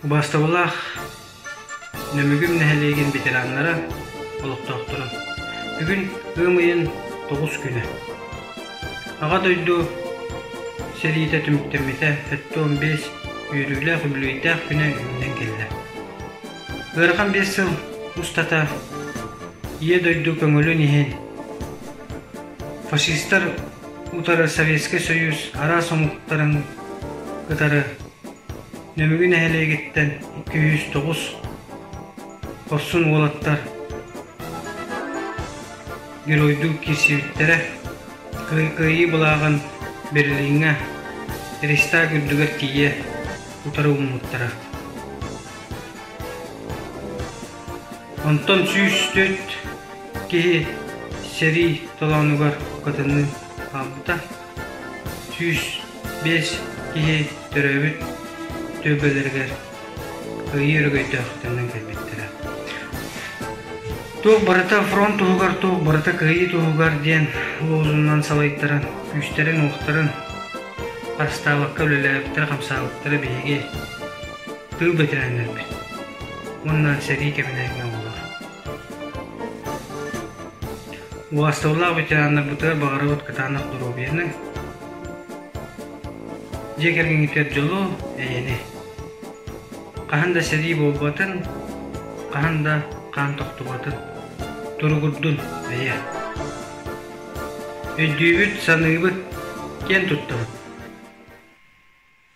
Убаастабылаах Нөмүгүм нэһилиэгин ветераннара, олохтоохторо! Бүгүн ыам ыйын тоҕус күнэ. Аҕа дойду сэриитэ түмүктэммитэ сэттэ уон биэс үөрүүлээх үбүлүөйдээх күнэ үүнэн кэллэ. Ыарахан биэс сыл устата Ийэ дойду көҥүлүн иһин фашистар утары Советскай Союз араас омуктарын кытары Нөмүгү нэһилиэгиттэн икки сүүс тоҕус хорсун уолаттар геройдуу киирсибиттэрэ кыайыы былааҕын Берлиҥҥэ Рейхстаг үрдүгэр тиийэ утары уммуттара Онтон сүүс төрүт киһи сэрии толоонугар кытынныы хаалбыта, сүүс биэс киһи төрөөбүт түөлбэлэригэр кыайыы өрөгөйдөөхтөрүнэн кэлбиттэрэ. Туох барыта фронт туһугар, туох барыта кыайыы туһугар диэн лозуннан салайтаран, күүстэрин-уохтарын харыстаабакка үлэлээбиттэрэ, хамсаабыттара биһиги тыыл бэтэрээннэрбит уонна сэрии кэбиниһинэ буолар. Уасталлаах ветераннарбытыгар баҕарабыт кытаанах доруобуйаны, дьиэ кэргэҥҥитигэр дьолу, эйэни. Хаһан да сэрии буолбатын, хаһан да хаан тохтубатын туругурдун эйэ. Өйдүүбүт, саныыбыт, киэн туттабыт.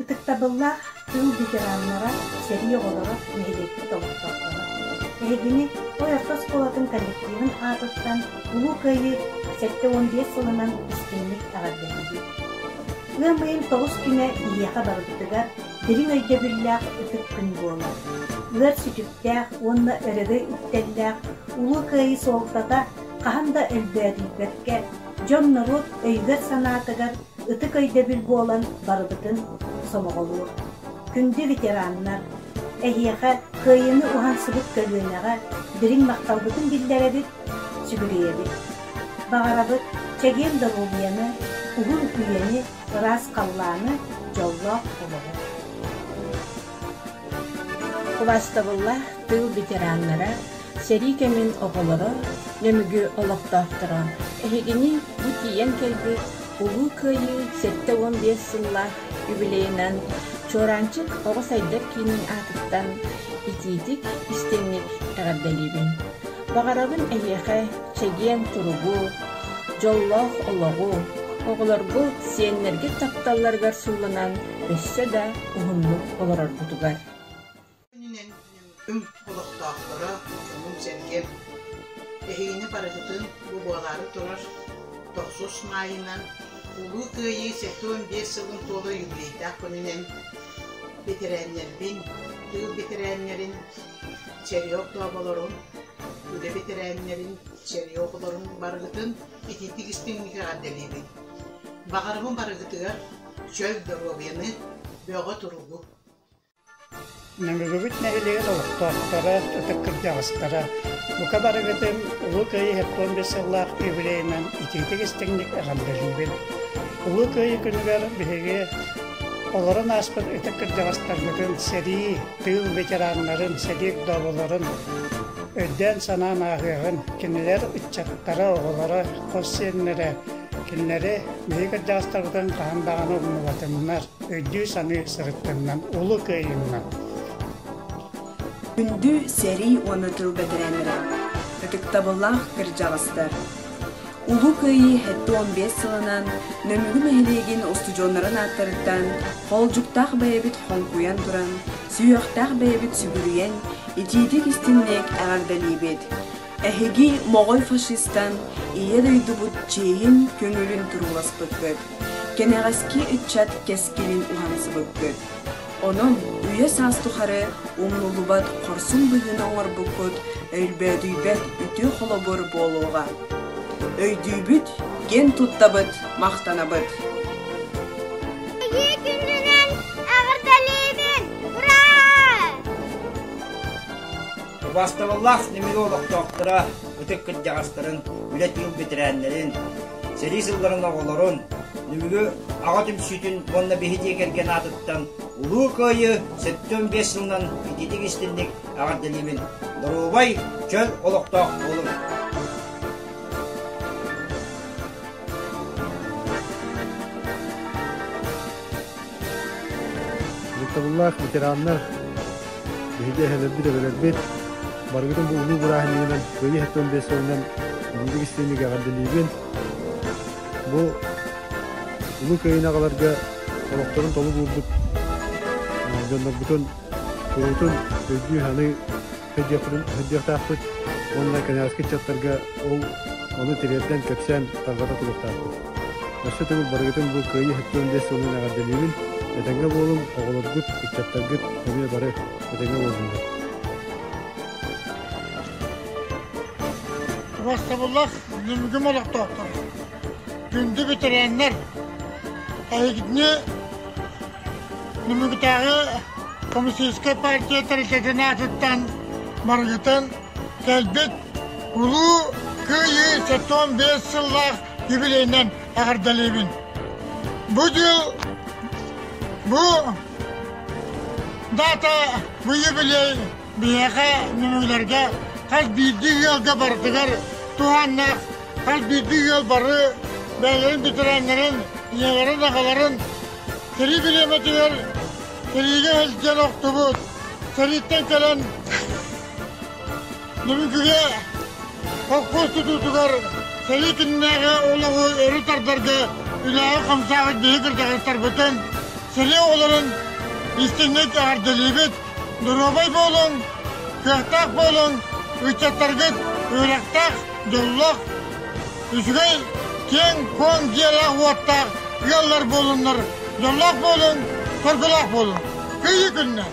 Ытыктабыллаах тыл ветераннара, сэрии оҕолоро, нэһилиэкпит олохтоохторо! Эһигини Ой-орто оскуолатын коллективын аатыттан Улуу Кыайыы сэттэ уон биэс сылынан истиҥник эҕэрдэлиибит! Ыам ыйын тоҕус күнэ ийиэхэ барыттыгар дириҥ өйдөбүллээх ытык күн буолар. Ыар сүтүктээх уонна өрөгөй үктэллээх Улуу Кыайыы суолтата хаһан да өлбөөдүйбэккэ, дьон-норуот өйүгэр-санаатыгар ытык өйдөбүл буолан барыбытын сомоҕолуур. Күндү ветераннар, эһиэхэ кыайыыны уһансыбыт көлүөнэҕэ дириҥ махталбытын биллэрэбит, сүгүрүйэбит. Баҕарабыт чэгиэн доруобуйаны, уһун үйэни, ыраас халлааны, дьоллоох олоҕу. Кыбаастабыллаах тыыл ветераннара Сэрии кэмин оҕолоро, Нөмүгү олохтоохторо, эһигини бу тиийэн кэлбит Улуу Кыайыы сэттэ уон биэс сыллаах юбилейынан Чуораанчык оҕо сайдар киинин аатыттан итиитик, истиҥник эҕэрдэлиибин. Баҕарабын эһиэхэ чэгиэн туругу, дьоллоох олоҕу, оҕолоргут сиэннэргит тапталларыгар сууланан өссө да уһуннук олороргутугар. күнүнэн үҥ олохтоохторо, омун-сэргэм, эһигини барытытын бу буолаары турар тохсус маайынан Улуу Кыайыы сэттион биэс сылын туола юбилейдаах күнүнэн бэтэрээннэрбин, тыыл бэтэрээннэрин, черёк дооболорун, үлэ бэтэрээннэрин, черёколорун барыгытын итиитик истиҥник эҕэрдэлиибин. Баҕарабын барыгытыгар чөл доруобуйаны, бөҕө туругу. Нөмүрүбүт нэһилиэгин олохтоохторо, ытык кырдьаҕастара, бука барыгытын Улуу Кыайыы сеппуон биэс сыллаах юбилейынан итиитик-истиҥник эҕэрдэлиибин! Улуу Кыайыы күнүгэр биһиги олорон ааспыт ытык кырдьаҕастаргытын, сэрии, тыыл ветераннарын, сэлии вдоволорун өйдөөн-санаан ааҕыаҕын. Кинилэр ыччаттара, оҕолоро, хос сиэннэрэ, кинилэри биһиги кырдьаҕастарбытын хаһан даҕаны умнубатыннар. өйдүү-саныы сырыттыннан улуу кыайыынан! Күндү сэрии уонна тыыл бэтэрээннэрэ, ытыктабыллаах кырдьаҕастар! Улуу Кыайыы сэттэ уон биэс сылынан Нөмүгү нэһилиэгин устудьуоннарын ааттарыттан холдьуктаах бэйэбит хоҥкуйан туран, сүһүөхтээх бэйэбит сүгүрүйэн, итиитик-истиҥник эҕэрдэлиибит! Эһиги моҕой фашистан Ийэ дойдубут чиэһин көҥүлүн турууласпыккыт, кэнэҕэски ыччат кэскилин уһансыбыккыт. Онон үйэ-саас тухары умнуллубат хорсун быһыыны оҥорбуккут өлбөөдүйбэт үтүө холобур буолуоҕа. Өйдүүбүт, киэн туттабыт, махтанабыт. Эһиги күннүнэн эҕэрдэлиибин! Ура! Убаастабыллаах ньимиги олохтоохторо, ытык кырдьаҕастарын, үлэ тыыл бэтэрээннэрин, сэрии сылларын оҕолорун, ньимиги Аҕа түмсүүтүн уонна биһидиэ кэргэн аатыттан Улуу Кыайыы сэттэ уон биэс сылынан ититик-истинник эҕэрдэлиибин! Доруобай, чөл олохтоох буолуҥ! Дьыктабыллаах ветераннар биһиги эһэлэрбит эбэлэрбит барыгытын бу улуу бырааһын иһинэн кыайыы сэттион биэс сылынан бүгүндүк истиэнньик эҕэрдэлиибин. Бу улуу кыайыыны аҕаларга олохторун толук уурбут дьоннорбутун куруутун өйдүү-саныы сылдьыахпытын сылдьыахтаахпыт уонна кэнэҕэски ыччаттарга ол ону тириэрдэн кэпсээн тарҕата туруохтаахпыт өссө төгүл барыгытын бу кыайыы сектор сылынан эҕэрдэлиибин этэҥҥэ буолуҥ оҕолоргут ыччаттаргыт эмиэ бары этэҥҥэ буоллуннар уруостабыллах ньүмүгүм олохтоохтор күндү ветераннар эһигини Нөмүгүтээҕи Комиссийскай партия тэрилтэтин аатыттан барытын кэлбит Улуу Кыайыы сэттион биэс сыллаах юбилейынан эҕэрдэлиибин! Бу дьыл бу даата бу юбилей биһиэхэ нөмүгүлэргэ хас биирдии ыалга барытыгар туһааннаах хас биирдии ыал бары бэйэлэрин бэтэрээннэрин ийэлэрин аҕаларын Кырыы килиэмэтигэр тириигэ сылдьан охтубут, сэрииттэн кэлэн Нөрүҥкүгэ холкуос тутуутугар сэрии күннээҕи олоҕу өрө тардарга үлэҕэ-хамсааҕы биһи кырдьаҕастарбытын, сэрии оҕолорун истиҥник эҕэрдэлиибит! Доруобай буолуҥ, кыахтаах буолуҥ, ыччаттаргыт үөрэхтээх, дьоллоох, үчүгэй, киэҥ-куоҥ дьиэлээх-уоттаах ыаллар буолуннар, дьоллоох буолуҥ, соргулаах буолуҥ. Кыайыы күннэр!